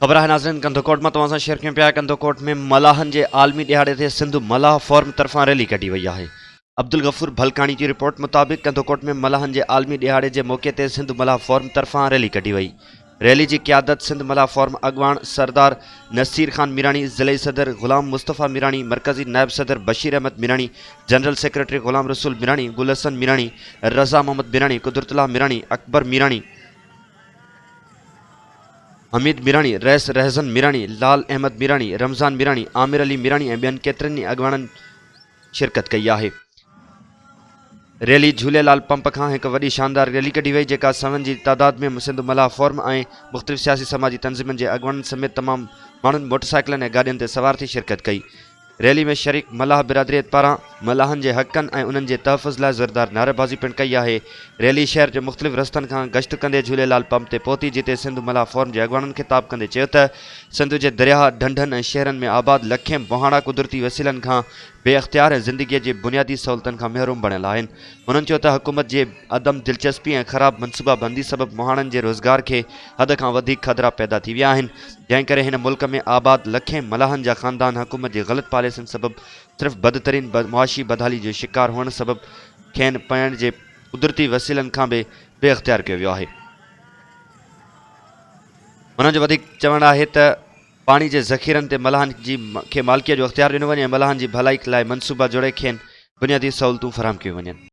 خبر آهي ناظرين ڪنڌڪوٽ مان توهان سان شيئر ڪيون پيا ڪنڌڪوٽ ۾ ملاحن جي عالمي ڏهاڙي تي سنڌ ملاح فورم طرفان ريلي ڪڍي وئي آهي عبدالغفور ڀلڪاڻي جي رپورٽ مطابق ڪنڌڪوٽ ۾ ملاحن جي عالمي ڏهاڙي جي موقعي تي سنڌ ملاح فورم طرفان ريلي ڪڍي وئي ريلي جي قيادت سنڌ ملاح فورم اڳواڻ سردار نصير خان ميراڻي ضلعي صدر غلام مصطفيٰ ميراڻي مرڪزي نائب صدر بشير احمد ميراڻي جنرل سيڪريٽري غلام رسول ميراڻي گل حسن ميراڻي رضا محمد ميراڻي قدرت الله ميراڻي اڪبر ميراڻي حميد ميراڻي، رئيس رهزن ميراڻي، لال احمد ميراڻي، رمضان ميراڻي، عامر علي ميراڻي ۽ ٻين ڪيترن ئي اڳواڻن شرڪت ڪئي آهي. ريلي جهولي لال پمپ کان هڪ وڏي شاندار ريلي ڪڍي وئي جيڪا سوين جي تعداد ۾ سنڌ ملاح فورم ۽ مختلف سياسي سماجي تنظيمن جي اڳواڻن سميت تمام ماڻهن موٽر سائيڪلن ۽ گاڏين تي سوار ٿي شرڪت ڪئي. ريلي ۾ شريڪ ملاح برادريت پاران ملاحن جي حقن ۽ انهن جي تحفظ لاء زوردار نعريبازي پڻ ڪئي آهي. ريلي شهر جي مختلف رستن کان گشت ڪندي جهوليلال پمپ تي پهتي جتي سنڌ ملاح فورم جي اڳواڻن خطاب ڪندي چيو ته سنڌ جي درياهه، ڍنڍن ۽ شهرن ۾ آباد لکين بهاڻا قدرتي وسيلن کان بي اختيار ۽ زندگيء جي بنيادي سهولتن کان محروم بڻيل آهن. هنن چيو ته حڪومت جي عدم دلچسپي ۽ خراب منصوبه بندي سبب مهاڻن جي روزگار کي حد کان وڌيڪ خدرا پيدا ٿي ويا آهن جنهن ڪري هن ملڪ ۾ آباد لکين ملاحن جا خاندان حڪومت جي غلط پاليسين سبب صرف بدترين معاشي بدحالي جو شڪار هئڻ سبب کين پيئڻ جي قدرتي وسيلن کان به بي اختيار ڪيو ويو آهي هنن جو وڌيڪ چوڻ آهي ته پاڻي جي ذخيرن تي ملاحن جي کي مالڪيء جو اختيار ڏنو وڃي ۽ ملاحن جي ڀلائي لاء منصوبا جوڙي کين بنيادي سهولتون فراهم ڪيون وڃن.